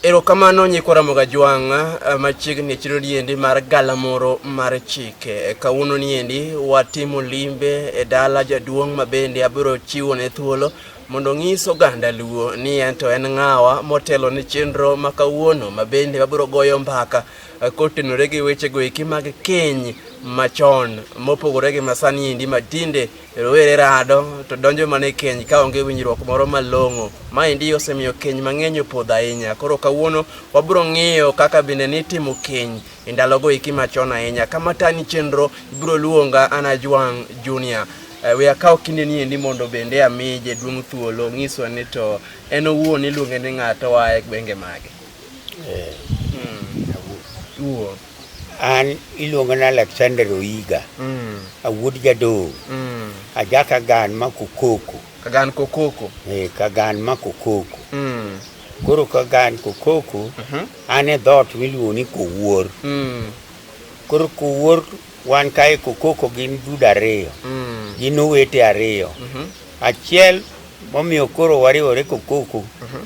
Erokamano nyikwa Ramoga Jwang' eh, machiegni chiro niendi mar galamoro mar chike. Eh, kawuono niendi watimo limbe e dala jaduong' ma bende abiro chiwo ne thuolo mondo ong'is oganda luo ni en to en ng'awa motelo ne chenro ma kawuono ma bende wabiro goyo mbaka eh, kotenore gi wechego eki mag keny machon mopogore gi masani endi matinde Rowere rado to donjo mana e keny ka onge winjruok moro malong'o. Maendi osemiyo keny mang'eny opodho ahinya. Koro kawuono wabiro ng'iyo kaka bende nitimo keny e ndalogo iki machon ahinya. Kama tani chenro ibiro luonga Ana Juang Junior. Eh, we akawo kinde ni endi mondo bende ami jaduong' thuolo ng'iswa ni to en owuon iluonge ni ng'ato oa e gwenge mage. Eh. Hmm. An iluongana Alexander Oiga. Mm. Awuod Jadong. Mm. Aja Kagan ma Kokoko. Kagan Kokoko. Eh, Kagan ma Kokoko. Mm. Koro Kagan Kokoko, mm -hmm. an e dhoot miluongo ni Kowuor. Mm. Koro Kowuor wan kae Kokoko gin dude ariyo. Mm. Gin owete ariyo. Mm -hmm. Achiel momiyo koro wariwore Kokoko. Mm -hmm.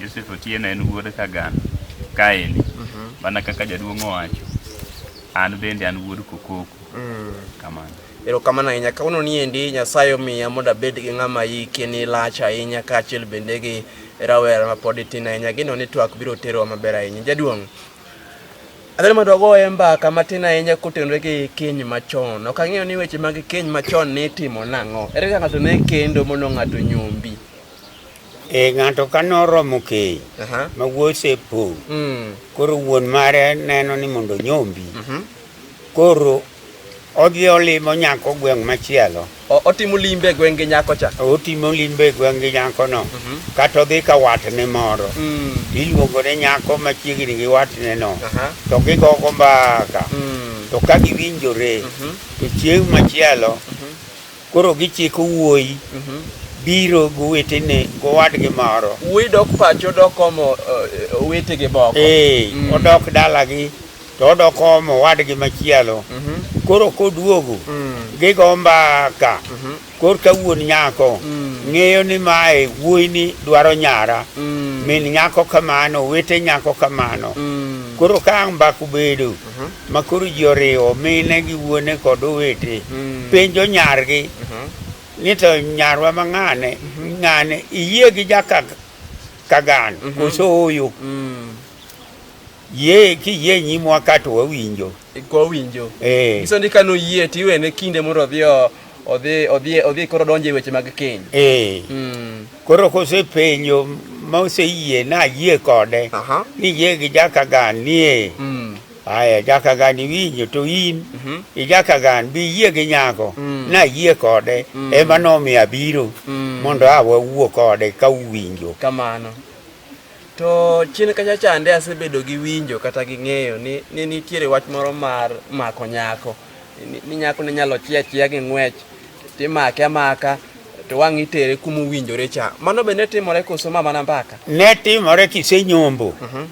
Joseph Otieno en wuod Kagan kaeni mhm. mana kaka jaduong' owacho an bende an wuod Kokoko mm. kamano erokamano ahinya kawuono ni endi nyasaye omiya mondo abed gi ng'ama yike ni lach ahinya kaachiel bende gi rawera ma pod itin ahinya gino ni twak biro terowa maber ahinya jaduong' adhani mondo wagoye mbaka matin ahinya kotenore gi keny machon ok ang'eyo ni weche mag keny machon ne itimo nang'o ere ka ng'ato ne kendo mondo ng'ato nyombi Eh, ng'ato ka noromo keny Aha. ma wuoyi osepong' Mm. koro wuon mare neno ni mondo onyombi Mhm. koro odhi olimo nyako gweng' machielo O- Otimo limbe e gwenge nyako cha. otimo limbe e gweng' gi nyakono Mhm. kata odhi ka watne moro Mm. iluongo ne nyako machiegni gi watneno Aha. to gigogo mbaka Mm. to ka giwinjore Mhm. to chieng' machielo Koro gichiko wuoyi biro gowetene gowadgi moro. Wuoyi dok pacho odok omo eh, owetege moko. Ee, Mm. odok dalagi to odok omo wadgi machielo. Mhm, Koro koduogo mm, gigo mbaka mhm, korka wuon nyako Mm. ng'eyo ni mae wuoyini dwaro nyara mm, min nyako kamano owete nyako kamano mm, koro ka ang' mbaka obedo mhm, ma koro ji oriwo mine gi wuone kod owete mm. penjo nyargi mhm. ni to nyarwa ma ng'ane mhm. ng'ane iyie gi jakagano mhm. koso oyo mm. ye kiyie nyimwa ka to wawinjo kwawinjo eh. iso ni kano yie tiwene kinde mondo odhi odhi odhi odhi koro donjo e weche mag keny eh mm. koro kosepenjo ma oseyie na yie kode uh -huh. ni yie gi jaka gan nie mm. aya jaka gan iwinjo to in mm -hmm. ijaka gan bi yie gi nyako mm. na yie kode mm. ema nomiyo abiro mm. mondo awa wuo kode ka uwinjo kamano to chien kacha chande asebedo gi winjo kata gi ng'eyo ni, ni nitiere wach moro mar mako nyako ni nyako ne nyalo chia chia gi ng'wech timake amaka to wang' itere kuma owinjore cha mano be ne timore koso ma mana mbaka ne timore kisenyombo uh mhm. -huh.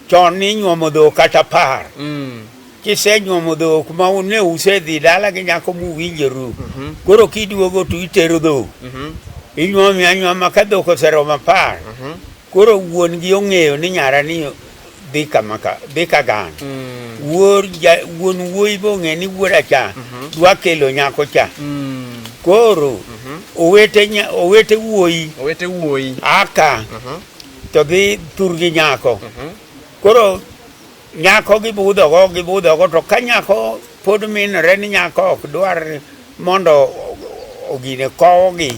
chon ninyuomo dhok kata par mm. kisenyuomo dhok ma ne usedhi dala gi nyako muwinjoru uh mhm. -huh. koro kiduogo to itero dhok uh mhm. -huh. inyuomi anyuoma ka dhok oseromo apar uh -huh. koro wuon gi ong'eyo ni nyara ni dhi kama ka dhi ka gang mm. wuor ja wuon wuoyi bong'e ni wuora cha mhm. dwa kelo nyako cha mm. koro mhm. owete nya owete wuoyi owete wuoyi aka mhm. to dhi tur gi nyako koro nyako gibudho go gibudho go to ka nyako pod minore ni nyako ok dwar mondo ogine kowogi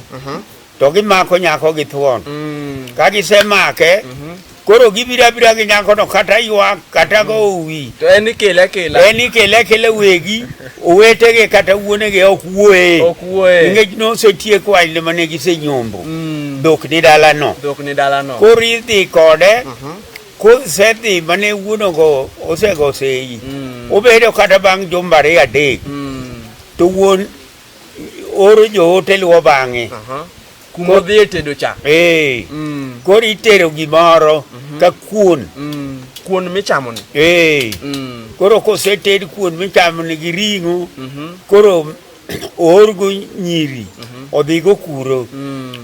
to gimako nyako gi thuon mm. ka gisemake mm -hmm. koro gibiro abira gi nyakono kata ywak kata go mm. uwi to en ikele akela en ikele akela wegi owetege kata wuonege ok wuoye ok wuoye nikech nosetiek wanyne mane gisenyombo mm. dhok ni dalano dhok ni dalano koro idhi kode mm -hmm. kosedhi mane wuonogo osego seyi mm. obedo kata bang' jumba ariyo adek mm. to wuon oro joote luwo bang'e kuma odhi e tedo cha ee mm. koro itero gimoro mhm. ka kuon mm. kuon michamoni ee mm. koro koseted kuon michamoni gi ring'o mhm. koro oorgo nyiri mhm. odhigo kuro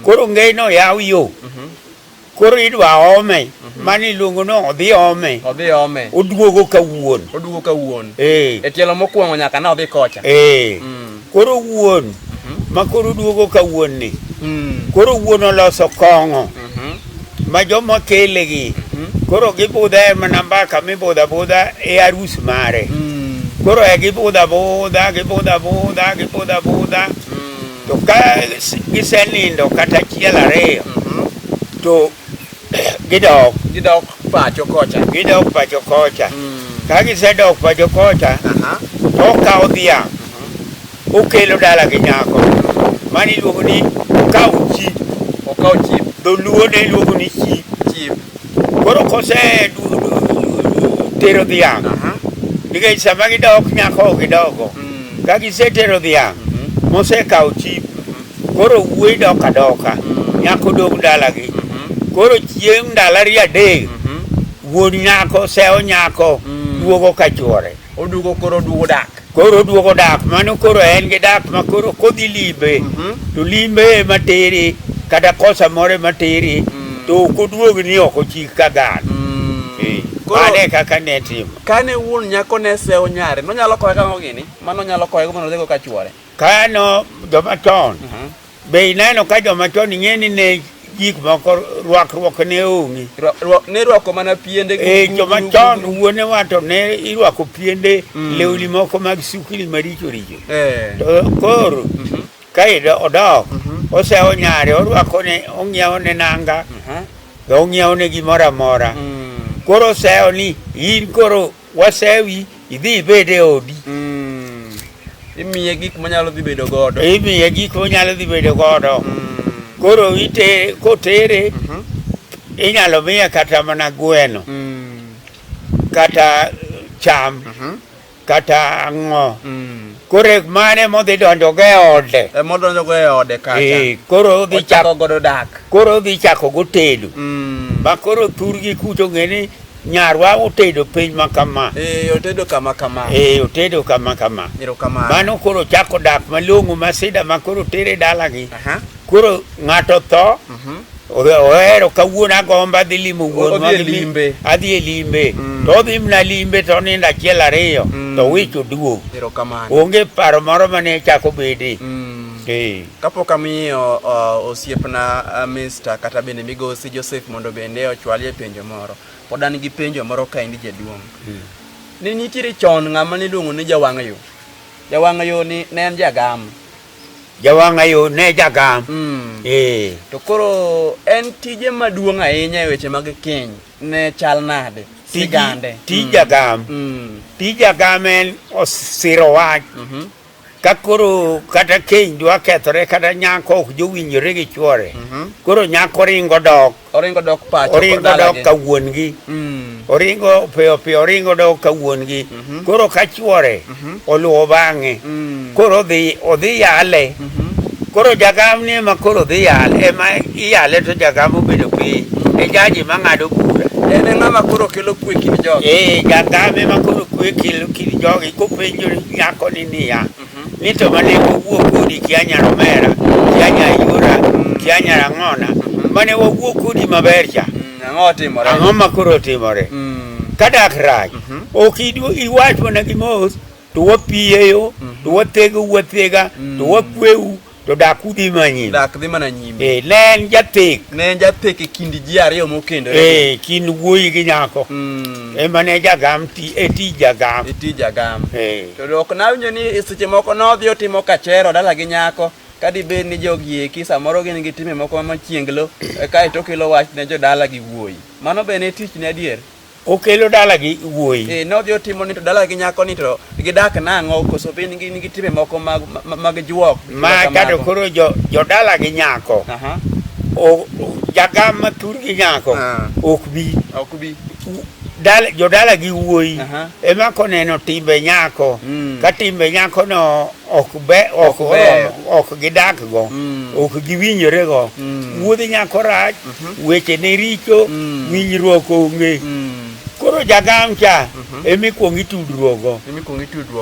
koro ngeyno yaw yo Koro idwa ome mani iluongo ni odhi ome Odhi ome. oduogo ka wuon Oduogo ka wuon. ee E tielo mokwongo nyaka ne odhi kocha. ee Mm. koro wuon ma koro oduogo ka wuon ni Mm. koro wuon oloso kong'o Mhm. ma joma kele gi Mhm. koro gibudha e mana mbaka mibudha budha e arus mare Mm. koro e gibudha budha gibudha budha gibudha budha To ka gisenindo kata achiel ariyo to gidok Gidok pacho kocha. gidok pacho kocha ka gisedok pacho kocha Aha. to okawo dhiang' okelo dala gi nyako mano iluongo ni okawo chi Okaw chip, dholuo ne iluongo ni chi chip. koro kose du- du- du- tero dhiang' Aha. nikech sama gidok nyako ok gidogo Mm. Ka gisetero dhiang' mhm. mosekawo chip, mhm. koro wuoyi dok adoka, mhm. nyako dog dalagi. Koro chieng' ndalo ariyo adek, wuod nyako sewo nyako mm. duogo ka chwore. Oduogo koro oduogo dak. Koro oduogo dak, mano koro en gi dak ma koro kodhi limbe, to limbe ema tere kata kosa moro ema tere, mm. to ok oduog ni ok ochik ka gan. Mm. Eh, mano e kaka ne timo. Kane wuon nyako ne sewo nyare, nonyalo koye kang'o gini? Mano nyalo koye mondo odhigo ka chwore. Kano joma chon. Uh -huh. Be ineno ka joma chon ing'e ni ne gik moko rwakruok ne onge. Ne rwako mana piende. Eh, joma chon wuone wato ne irwako piende mm. lewni moko mag sukni maricho richo. Eh. To koro mm -hmm. ka odok mm -hmm. osewo nyare orwako ne ong'iewo ne nanga. Mm -hmm. be ong'iewo ne gimoro amora mm. koro osewo ni in koro wasewi idhi ibed e odi mm. imiye gik monyalo dhi bedo godo imiye gik monyalo dhi bedo godo mm. koro ite kotere mm -hmm. inyalo miye kata mana gweno mm. kata cham mm -hmm. kata ang'o mm. koro mane modhi donjo go e ode e modonjo go e ode kacha ee eh, koro odhi chako godo dak koro odhi chako go tedo mm. ma koro thurgi kucho ng'eni nyarwa otedo piny ma kama ee eh, otedo kama kama ee eh, otedo kama kama mano koro chako dak malong'o ma sida ma koro tere dalagi Koro ng'ato tho ohero kawuono agomba dhi limo wuon adhi e limbe mm. to odhi mna limbe to onindo achiel ariyo mm. to wich oduog onge paro moro mane chako bede mm. eh. kapok amiyo osiepna mista kata bende migosi joseph mondo bende ochwalie penjo moro pod an gi penjo moro ka endi jaduong' ne nitiere chon ng'ama niluongo ni jawang' yo jawang' yo ni ne en jagam Jawanga yo ne jagam. Mm. Eh. To koro en tije maduong' ahinya e weche mag keny ne chal nade? Sigande. Tij mm. jagam. Mm. Tij jagam en osiro wach. Mm -hmm. Ka koro kata keny dwa kethore kata nyako ok jowinjore gi chwore. Mm -hmm. Koro nyako ringo dok. Oringo dok pacho. Oringo dok ka wuon gi. Mm. Oringo piyo piyo oringo dok ka wuon gi. Mm -hmm. Koro ka chuore mm -hmm. oluwo bang'e. Mm. Koro odhi odhi yale. Mm -hmm. Koro jagam ni ema koro dhi yale ema iyale to jagam obedo piny. Mm. E jaji ma ng'ado bura. En ng'ama koro kelo kwe kind jogi. Eh, jagam ema koro kwe kelo kind jogi kopenjo nyako ni niya. Mm. ni to mane wawuo kodi kia nyaromera kia nyayura kia nyarang'ona mane wawuo kodi maber cha Mm, Ang'o otimore? ang'o ma koro otimore Mm, kadak rach Mhm. ok idu- iwach mana gi mos to wapiyeyo to wathego wathega to wakweu To dak udhi mana nyime. Dak dhi mana nyime. Eh, ne en jathek. Ne en jathek e kind ji ariyo mokendore. Eh, kind wuoyi gi nyako. Mm. Ema ne jagam ti e ti jagam. E ti jagam. Eh. To dok nawinjo ni e seche moko nodhi otimo kachero dala gi nyako. Kadi bed ni jogi eki samoro gin gi time moko machienglo e kae to kelo wach ne jodala gi wuoyi. Mano be ne tich ne adier. okelo dala gi wuoyi eh nodhi otimo ni to dala gi nyako ni to gidak nang'o koso be nigi nigi timbe moko mag mag juok ma kado koro jo jo dala gi nyako aha o jagam ma tur gi nyako ah. ok bi ok bi dala jo dala gi wuoyi ema koneno timbe nyako mm. ka timbe nyako no ok be ok oromo ok gidak go mm. ok giwinjore go mm. wuodhi nyako rach mhm. weche ne richo mm. winjruok onge koro jagam cha mhm. ema ikwong itudruokgo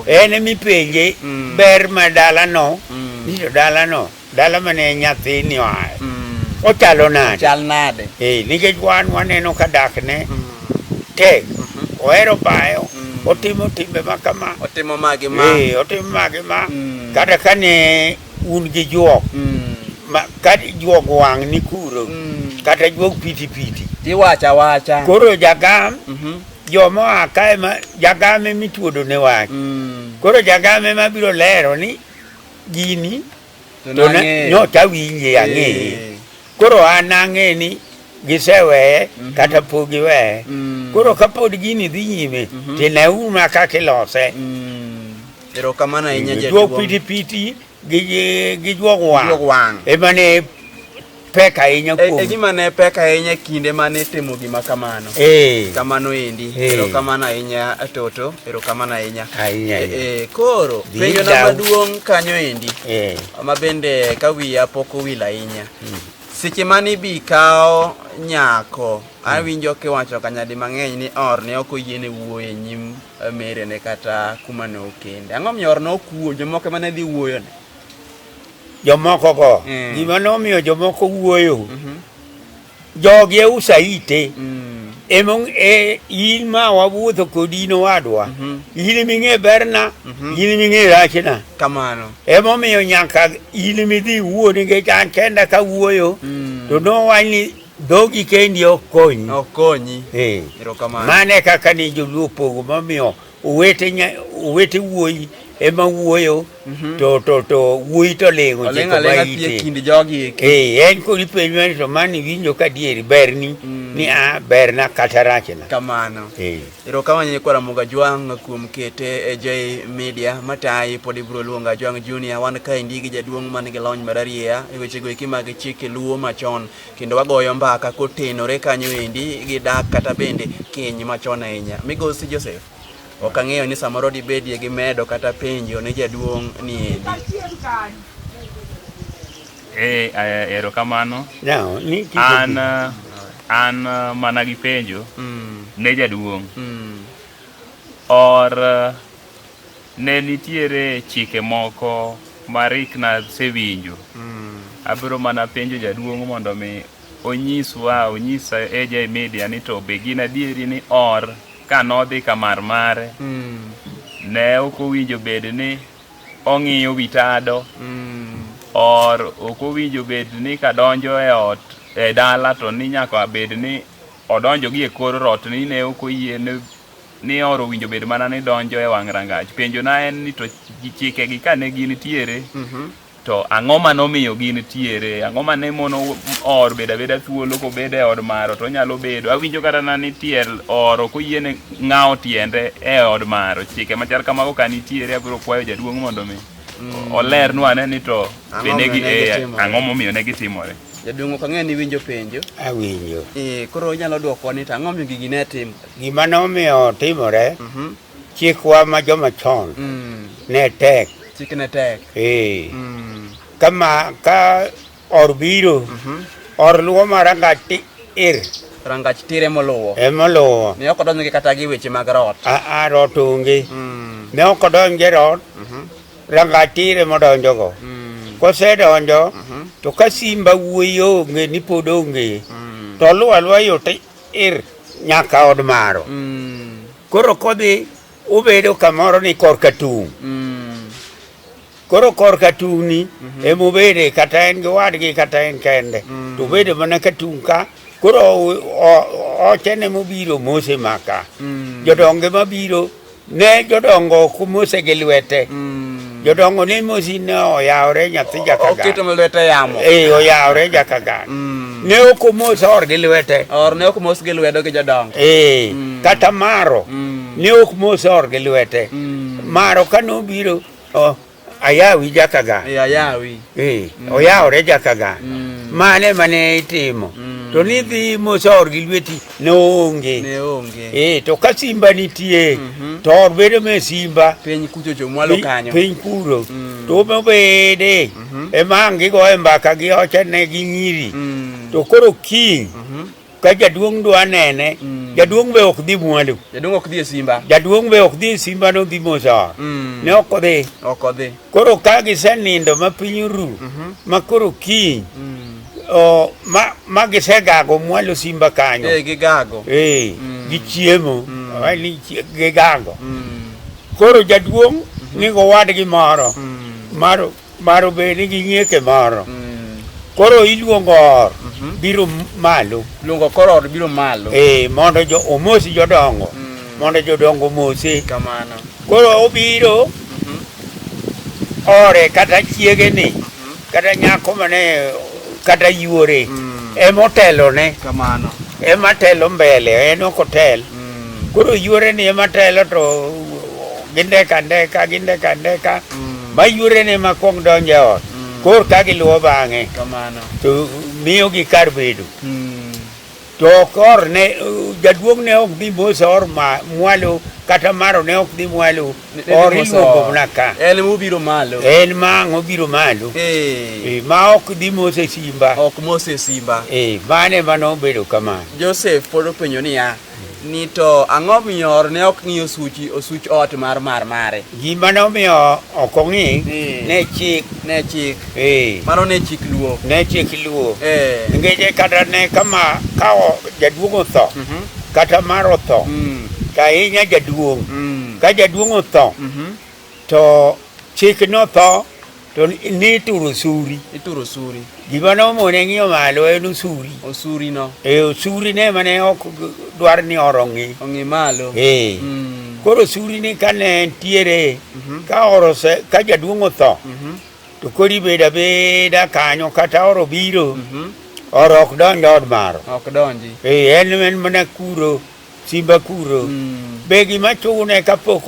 en ema ipenje ber ma dalano ni to dalano Dala mane nyathini oaye mm. ochalo nade? Chal nade? Eh, nikech wan waneno ka dakne mm. tek mm-hmm. ohero bayo mm. otimo timbe ma kama otimo magi ma eh, otimo magi ma mm. kata kane un gi juok mm. ma kata juok wang' ni kuro mm. kata juok piti piti tiwacho awacha koro jagam mm -hmm. jomoa kae ma jagame mituodo ne wach mm. koro jagame mabiro lero ni gini to nyocha winje eh. ang'eye koro an ang'e ni giseweye mhm. kata pok giweye mm. koro kapod gini dhi nyime mhm. tineuru na kaka ilose mm. erokamano ahinya jaduong' piti piti gi juog wang' ema ne pek ahinya e, kuom e gima ne pek ahinya kinde mane timo gima kamano eh kamano endi eh. ero kamano ahinya toto ero kamano ahinya ahinya eh, eh koro penjo na maduong kanyo endi eh ma bende ka wiya pok owil ahinya hmm. seche mane ibi kawo nyako hmm. awinjo kiwacho kanyadi mang'eny ni or ne ok oyiene wuoyo e nyim eh, merene kata kuma ne okende ang'o miyo or ne ok wuoyo jomoko mane dhi wuoyone jomokogo mm. gima nomiyo jomoko wuoyo mm -hmm. jogi e usaite mm. emong e in ma wawuotho kodi in owadwa mm -hmm. in ming'e berna mm -hmm. in ming'e rachna kamano emomiyo nyaka in midhi wuo nikech an kenda ka wuoyo mm. to nowach ni dhogi kendi ok konyi ok konyi hey. mane kaka ni joluo pogo momiyo Owete nya, owete wuoyi ema wuoyo mm -hmm. to to to wuoyi to lingo je ko baite kinde jogi eh en ko ni penjo ni to mani winjo ka dieri ber ni mm. ni a ber na kata rachna kamano eh ero kama ni kwa muga jwang kuom kete e jay media matai podi bro luonga jwang junior wan ka indigi jaduong man gi lony mararia e weche go ikima gi chike luo machon kendo wagoyo mbaka kotenore kanyo endi gi dak kata bende keny machon ahinya. Migosi Joseph, ok ang'eyo ni samoro dibedie gi medo kata penjo ne jaduong' ni endi. Eh, eh, erokamano. Now, ni kiko An gi- eh, an eh, mana gi penjo Mm, ne jaduong' mm, or eh, Ne nitiere chike moko ma Rick na sewinjo. Mm. Abiro mana penjo jaduong' mondo mi onyiswa, onyisa AJ Media ni to be gin adieri ni or ka nodhi ka mar mare. Mm. Ne ok owinjo bed ni ong'iyo wi tado. Mm. Or ok owinjo bed ni kadonjo e ot e dala to ni nyaka bed ni odonjo gi e kor rot ni ne ok oyie ni ni oro winjo bed mana ni donjo e wang' rangach. Penjona en ni to ji- chikegi ka ne gin tiere to ang'o ma nomiyo gin tiere ang'o ma ne mono or bedo abeda thuolo kobedo e od maro to onyalo bedo awinjo kata na ni tiel oro koyiene ng'awo tiende e od maro chike machal kamago ka nitiere abiro kwayo jaduong' mondo mi olernwa ane ni to Ang'o bende gi- momiyo ne eh, gitimore? ang'o momiyo ne gitimore Jaduong' ok ang'e ni winjo penjo. Awinjo. Eh, koro inyalo dwokowa ni to ang'o momiyo gigi ne tim- Gima nomiyo timore, chikwa ma joma chon ne tek. Chik ne tek. Ee. Kama ka or biro, or luwo ma rangach ti ir. Rangach tir emoluwo. Emoluwo. Ne ok odonjgi kata gi weche mag rot. Aa, rot onge. Ne ok odonje rot, rangach tir emodonjogo. Kosedonjo, to ka simba wuoyi onge ni pod onge, to oluwo aluwa yo ti ir nyaka od maro mm. koro kodhi ubedo kamoro ni korka tung' mm. koro korka tung'ni mm -hmm. emubede kata en gi wadgi kata en kende mm. to ubedo mana ka tung' ka koro ochene mobiro mose maka mm. jodonge mabiro Ne jodongo kumose gi lwete. Mm. Jodongo ne mosi ne oyawre nyathi jakagan. Oketo ma lwete yamo. Eh, oyawre jakagan. Mm. Ne ok omos or gi lwete. Or ne ok omos gi lwedo gi jodongo. Eh, mm. kata maro. Mm. Ne ok mos or gi lwete. Mm. Maro kane obiro, oh, Ayawi jakaga. Eh, ayawi. Eh, mm. oyawore jakaga. Mm. Mane mane itimo. Mm. To ni dhi mosor gi lweti ne onge. Ne onge. Eh, to ka simba nitie, mm -hmm. to or bedo me simba. Piny kucho cho mwalo kanyo. Piny kuro. Mm. To mo bede. Mm -hmm. E mangi go e mbaka gi ocha ne gi nyiri. Mm. To koro king. Mm -hmm. ka jaduong' dwa nene mm. jaduong' be ok dhi mwandu jaduong' ok dhi e simba jaduong' be ok dhi e simba no dhi mosor mm. ne ok odhi ok odhi koro ka gisenindo ma piny ru mm -hmm. ma koro kiny mm. o, ma, ma gisegago mwalo simba kanyo e, gigago e, mm. gichiemo mm. ni gigago mm. koro jaduong' mm -hmm. nigo wadgi moro mm. mar Maro be nigi nyieke moro. Mm. Koro iluongo or mhm. biro malo. Luongo koro or biro malo. Eh, mondo jo omosi jodongo. Mm. Mondo jodongo omosi. Kamano. Koro obiro mhm. ore kata chiege ni mhm. kata nyako mane kata yuore mm. emotelo ne kamano ematelo mbele en ok otel koro yuore ni ematelo to gindeko andeka gindeko andeka Mm. ma yuorene ma kwong donjo e ot Mm. kor ka giluwo bang'e Kamano. to miyogi kar bedo Mm. to ok or ne jaduong' ne ok dhi mos or ma- mwalo kata maro ne ok dhi mwalo Ne- ne or dhi mos iluongo or. mana ka En mubiro malo. en ma ang' obiro malo Eh. Eh, ma ok dhi mos e simba Ok Mose Simba. Eh, mane mano obedo kamano Joseph pod openjo niya, ni to ang'o miyo ne ok ng'i osuchi osuch ot mar mar mare gima ne omiyo ok ong'i ne chik ne chik eh mano ne chik luo ne chik luo eh ngeje kata ne kama ka jaduong otho mm -hmm. kata mar otho mm. to ahinya jaduong mm. ka jaduong otho mm -hmm. To chik notho to ni ituro usuri ituro usuri gima nomone ng'iyo malo en usuri usuri no e usuri ne mane ok dwar ni oro ng'i ong'i malo e mm. koro usuri ni ka ne ntiere mm -hmm. ka oro se ka jaduong' otho mm -hmm. to kori beda beda kanyo kata oro biro mm -hmm. oro ok donj od maro ok donji e en en mana kuro Simba kuro. Mm. Be gima chune kapok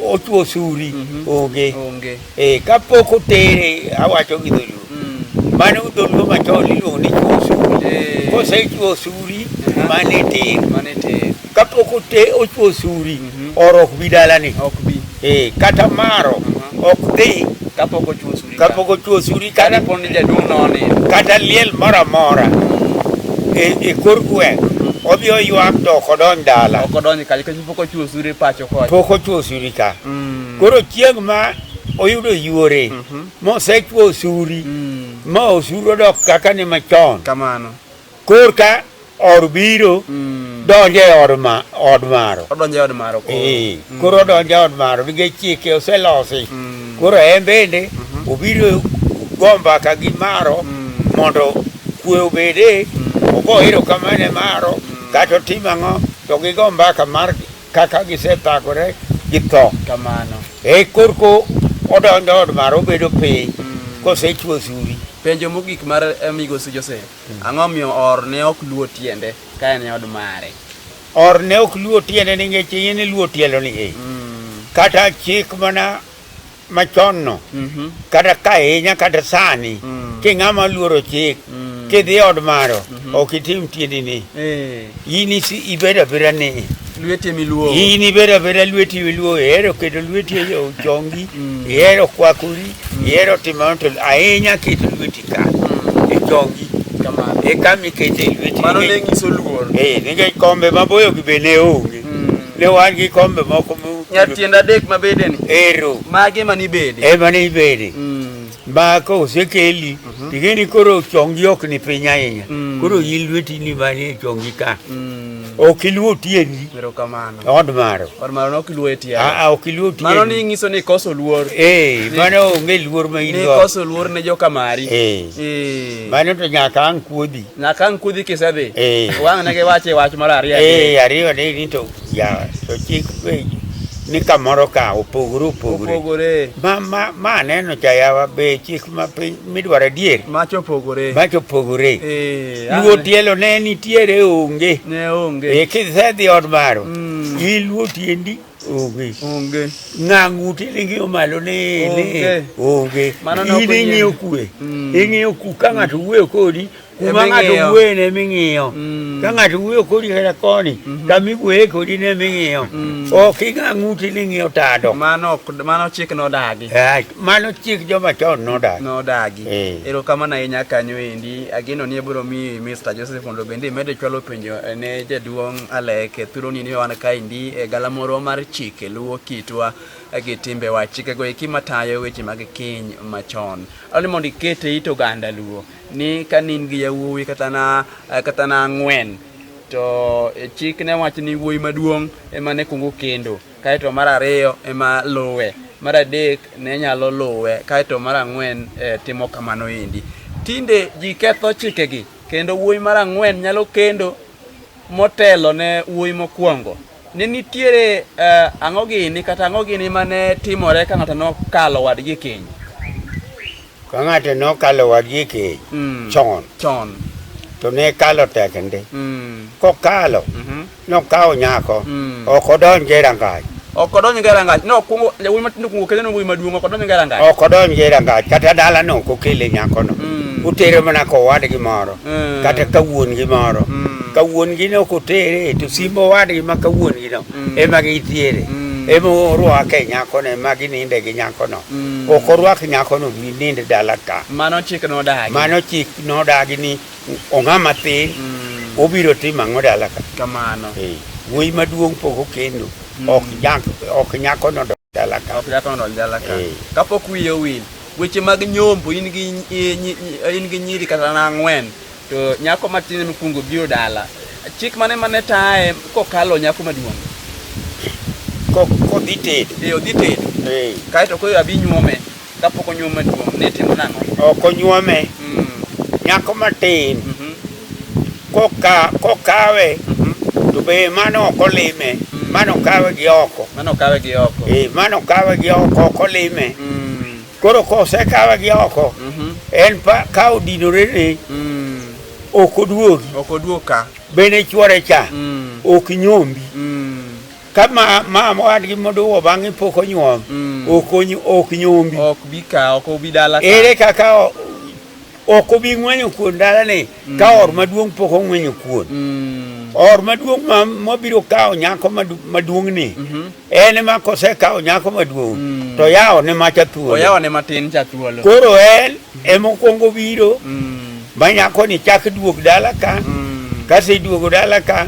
ochuo suri mm -hmm. onge. Onge. Eh kapok otere awacho gi dholuo. Mm. Mano dholuo machon iluongo ni chuo suri. Eh. Kosechuo suri uh -huh. mane ter. Mane ter. Kapok ote ochuo suri mm -hmm. orok bi dalani. Ok bi. Eh kata maro uh -huh. ok dhi kapok ochuo suri. kapok ochuo suri kata pod ni jaduong' noni kata liel moro amora e, e kor gweng' odhi oywak to ok odonj dala ok odonj kacha kech pok ochuo suri pacho kocha pok ochuo suri ka mm. koro chieng' ma oyudo yuore mm -hmm. mosechuo suri mm. ma osuru odok kaka ni machon kamano Korka or biro mm. donjo e od ma od maro. Odonjo e od maro koro. Eh, mm. koro odonjo e od maro nikech chike oselosi. Mm. Koro en bende mm -hmm. obiro gomba ka gi maro mm. mondo kwe obede mm. ogo hero kamane maro mm. kata otim ang'o to gigo mbaka mar kaka gisethagore gi tho. Kamano. Eh, korko odonjo e od maro obedo piny. Mm. kosechwo suri. Penjo mogik mar eh, Migosi Joseph. Ang'o omiyo or ne ok luwo tiende ka en e od mare? Or ne ok luwo tiende nikech iye ne luwo tielo ni e. Mm. Kata chik mana machon no. Mm -hmm. Kata ka inya kata sani. Mm. Ki ng'ama luoro chik. Mm. Ki dhi od maro. Mm -hmm. Ok itim tiende ni. E. Eh. In ibeda beda ni lweti emiluo. In ibeda beda lweti emiluo ero kedo lweti yo jongi mm. ero kwakuri mm. ero timanto ahinya kedo lweti ka mm. e jongi kama e kami kedo lweti. Mano ne ngiso luor. Eh ninge kombe maboyo gi bene onge. Ne wan gi kombe moko mu. Nyar tienda dek mabede ni. Ero. Mage mani bede. E mani bede. Mm. Ba ka osekeli mhm. ting'e ni koro chongi ok ni piny ahinya mm. koro yi lweti ni manie chongi ka mm. ok iluo tiendi od maro ok iluo tiendimano ni ng'iso ni koso luor eh, mano onge luor ma in koso luor ne joka mari eh. Eh. mano to nyaka ang' kuodhi nyaka ang' kuodhi kisedhi wang' ne giwache wach mar ariyo ariyo ni to Ya, to chik be ni kamoro ka opogore opogore. Opogore. Ma, ma, ma aneno cha yawa be chik ma piny midwaro adier. Macho opogore. Macho opogore. Eh, Luo ane. tielo ne nitiere onge. Ne onge. E kisedhi od maro. Mm. Iluo tiendi onge. Onge. Ng'ang'u tiende ng'iyo malo ne Onge. ne onge. Mano ne ok In ing'iyo onyiew. kue. Mm. Ing'iyo ku ka ng'ato wuoyo kodi kuma ng'ato wuoye ne ming'iyo mm. ka ng'ato wuoyo kodi kata koni mhm. kama iwuoye kodi ne ming'iyo mm. ok ing'a ng'uti ni ng'iyo tado mano chik nodagi eh, mano chik joma chon nodagi nodagi eh. erokamano ahinya kanyo endi ageno ni abiro mi Mr. Joseph mondo bende imedo chwalo penjo eh, ne jaduong' Alek thuroni ni wan kaendi e galamoro mar chike luwo kitwa gi timbewa chikego eki matayo weche mag keny machon. Ani mondo iket e it oganda luo. ni ka nin gi yawuowi kata na eh, kata na ang'wen to eh, chik ne wacho ni wuoyi maduong' ema ne kungo kendo kaeto mar ariyo ema luwe mar adek ne nyalo luwe kaeto mar ang'wen eh, timo kamano endi tinde ji ketho chikegi kendo wuoyi mar ang'wen nyalo kendo motelo ne wuoyi mokwongo ne nitiere eh, ang'o gini kata ang'o gini mane timore ka ng'ato nokalo wadgi keny Ka ng'ato ne okalo wadgi e keny Mm. chon Chon. to ne kalo tekende. Mm. Kokalo Mhm. nokawo nyako Mm. ok odonj e rangach Ok odonj e rangach. No, kuongo jawuoyi matindo kuongo kele wuoyi maduong' ok odonj e rangach. ok odonj e rangach kata dalano ok okele nyakono. Mm. Utere mana kowadgi moro Mm. kata ka wuon-gi moro. Mm. Ka wuon-gi ne ok otere to simbo owadgi ma ka wuon-gino mm. emagitiere mm. emorwa ke nyako ne magi ninde gi nyako no mm. okorwak nyako no ni ninde dala ka mano chik no dagi mano chik no dagi ni onga matin mm. obiro timo ango dala ka kamano hey. wuoyi maduong poko kendo mm. ok nyako no ok jatondo njala ka eh. kapok wiye owil weche mag nyombo in gi in gi nyiri kata na ang'wen to nyako matin mokwongo biro dala chik mane mane taye kokalo nyako maduong' kodhi tedo eh, odhi tedo eh. kaeto koro abi nyuome Kapok onyuom maduong' ne timo nang'o? Ok onyuome. Mm. Nyako matin. Mm -hmm. Koka, kokawe. Mm -hmm. To be mano ok olime. Mm. Mano kawe gi oko. Mano kawe gi oko. Eh, mano kawe gi oko ok olime. Mm. Koro kose kawe gi oko. Mm -hmm. En pa ka odinore ni. Mm. Ok oduogi. Ok oduoka. Bene chwore cha. Mm. Ok nyombi. Mm. ka ma, ma mowadgi moduwo bang'e pok onyuom Mm. ok onyu- ok nyombi ok bi ka ok obi dala ka. ere kaka o- ok obi ng'wenyo kuon dalani ka or maduong' pok ong'wenyo kuon Mm. or maduong' ma- mabiro kawo nyako madu- maduong'ni Mhm. en ema kosekawo nyako maduong' Mm. to yawone macha thuolo oyawane matin cha thuolo koro en emokwongo biro Mm. ma nyakoni chak duog dala ka Mm. kaseduogo dala ka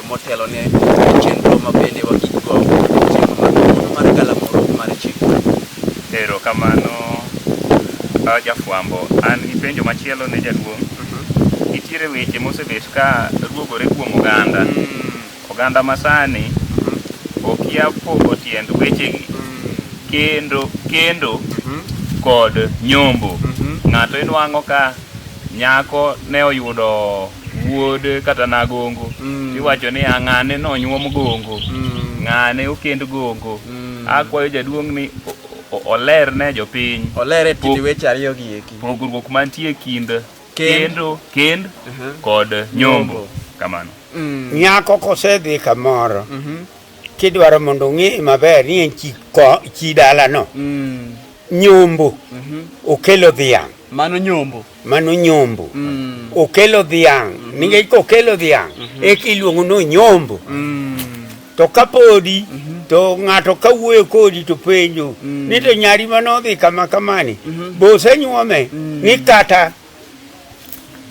motelo ne chenro ma bende wagigo chenro mar kawuono mar galamoro mar chikwa. Ero kamano ah, jafwambo. An gi penjo machielo ne jaduong'. Nitiere weche mosebet ka ruogore kuom oganda. Oganda masani okia pogo tiend wechegi kendo kendo kod nyombo. Ng'ato inwang'o ka nyako ne oyudo wuod kata nagongo mm. iwacho ni ang'ane nonyuom gongo mm. ng'ane okend gongo mm. akwayo jaduong' ni oler ne jopiny oler e tiend weche ariyo gi eki pogruok mantie kind kendo kend uh-huh. kod nyombo kamano mm. nyako kosedhi kamoro mm-hmm. kidwaro mondo ong'e maber ni en chi dalano mm. nyombo mm-hmm. okelo dhiang' Mano nyombo. Mano nyombo. Mm. Okelo dhiang'. Mm -hmm. Ninge iko okelo dhiang'. Mm -hmm. Eki iluongo no nyombo. Mm. To kapodi, mm -hmm. to ng'ato kawuoyo kodi to penjo, mm. ni to nyari mano odhi kama kamani, mm -hmm. bo osenyuome, mm. ni kata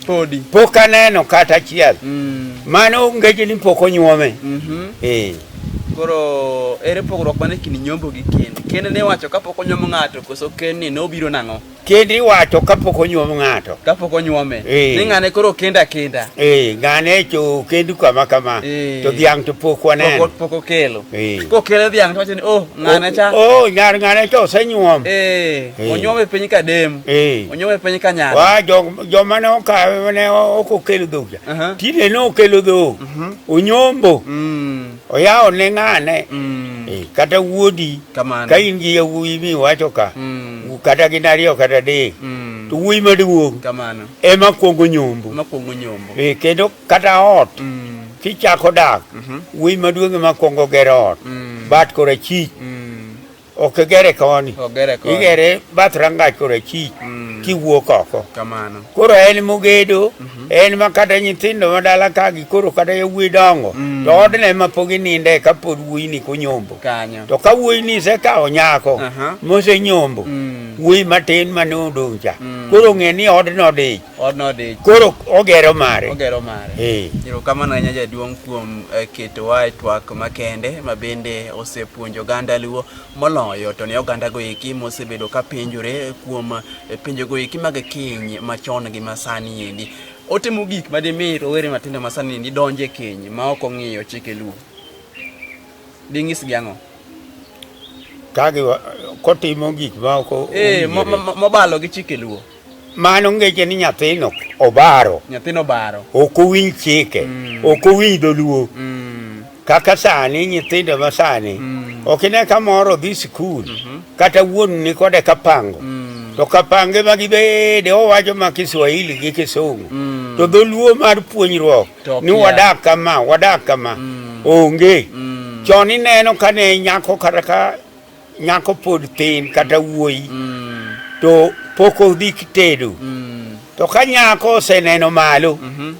podi pok aneno kata achiel mm. mano ngeche ni pok onyuome mm -hmm. eh. koro ere pogruok mane kind nyombo gi kend kend ne wacho kapok onyuomo ng'ato koso kend ni nobiro nang'o Kend iwacho kapok onyuom ng'ato. Kapok onyuome. Ee. Ni ng'ane koro kenda kenda. Ee, ng'ane cho kendu kama kama. Ee. To dhiang' to pok waneno. Pok pok okelo. Ee. Kokelo dhiang' to wacho ni oh ng'ane cha. Oh, nyar ng'ane cha osenyuom. Ee. Ee. Onyuome piny ka dem. Ee. Onyuome piny ka nyar. Wa jo joma ne okawe ne ok okelo dhok cha. Aha. Tinde ne okelo dhok. Onyombo. Mm. oyawo ne ng'ane mm. e, kata wuodi Kamana. ka in gi yawuoyi mi wacho ka mm. kata gin ariyo kata adek mm. to wuoyi maduong' ema kwongo nyombo e, kendo kata ot mm. kichako dak mm -hmm. wuoyi maduong' ema kwongo gero ot mm. bat kora chich mm. Ok igere koni. Ogere koni. Igere bath rangach kore chi mm. kiwuok oko. Kamano. Koro en mogedo, mm -hmm. en ma kata nyithindo ma dala ka gi koro kata yawuoyi dongo. Mm. To odne ma pok ininde ka pod wuoyi ni kunyombo. Kanyo. To ka wuoyi ni se ka onyako, uh -huh. mose nyombo. Mm. Wuoyi matin ma ne odong cha. Mm. Koro ng'e ni odno dich. Odno odich. Koro ogero mare. Ogero mare. Eh. Erokamano ahinya jaduong' kuom eh, ketowa e twak makende ma bende osepuonjo oganda Luo moloyo to ne oganda goeki mosebedo ka penjore kuom eh, penjo goeki mag keny machon gi masani endi. Otimo gik ma dimi rowere matindo masani endi donje keny ma ok ong'iyo chike Luo. Ding'is gi ang'o? Kagi kotimo gik ma ok eh, ong'iyo. Eh, mobalo gi chike Luo. Mano ngeche ni nyathino obaro. Nyathino obaro. Ok owinj chike. Mm. Ok owinj dholuo. Mm. Kaka sani nyithindo ma sani. Mm. Ok ine ka moro dhi sikul. Mm -hmm. Kata wuon ni kode kapango. Mm. To kapange ma gibede owacho ma Kiswahili gi Kisungu. Mm. To dholuo mar puonjruok. Ni wadak kama, wadak kama. Mm. Onge. Mm. Chon ineno ka ne nyako kata ka nyako pod thin kata wuoyi mm. to pok odhi kitedo mm. to ka nyako oseneno malo mm -hmm.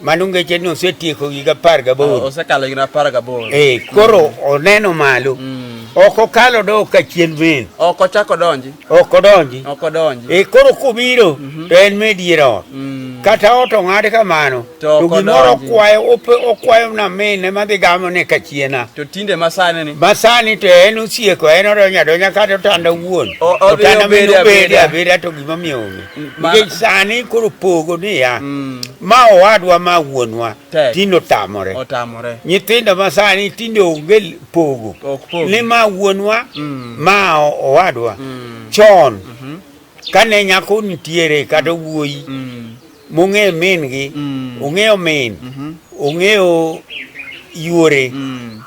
mano ngeche ni osetieko higa apar gaboro oh, osekalo higa apar gaboro ee eh, koro mm. oneno malo mm. ok okalo do ka chien men ok ochako donji ok odonji ok odonji ee eh, koro kobiro mm -hmm. to en medier ot mm. kata ot ong'ad kamano To To gimoro kodonji. okwayo ope- okwayo na mine madhi gamo ne kachiena To tinde masani ni. masani to en osieko en odonyo adonya kata otanda wuon O- odhi otanda obede min obede abeda. abeda to gimomiyo onge Mm, ma- nikech sani koro pogo niya Mm. ma owadwa ma wuonwa Tek. tinde otamore Otamore. nyithindo ma sani tinde onge l- pogo Ok pogi. ni ma wuonwa Mm. ma o- owadwa Mm. chon Mhm. kane nyako nitiere kata wuoyi Mm. mong'eyo min gi mm. ong'eyo min mm-hmm. ong'eyo yuore mm.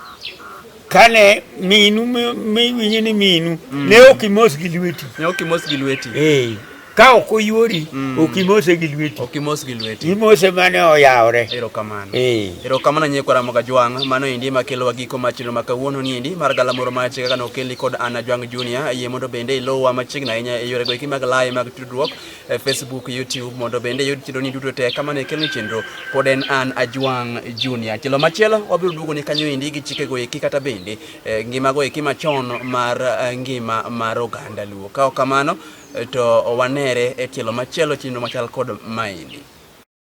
kane minu miwinjo ni minu mm. ne ok imos gi lweti ne ok imos gi lweti eh ka ok oyuori mm. ok imose gi lweti ok imos gi lweti imose mane oyawore erokamano eh. erokamano nyie kwa ramoga jwang mano endi ema kelowa giko mar chenro ma kawuono ni endi mar galamoro mar chike kaka nokeli kod ana jwang junior yie mondo bende ilowa machiegni ahinya e yorego eki mag laye mag tudruok e Facebook, YouTube mondo bende yud chenro ni duto te kamano ekelni chenro pod en an Ajwang' Junior. Chelo machielo wabiro duogo ni kanyo endi gi chikego eki kata bende eh, ngimago eki machon mar eh, ngima mar oganda Luo. Ka ok kamano eh, to wanere e tielo machielo chenro machal kod maendi.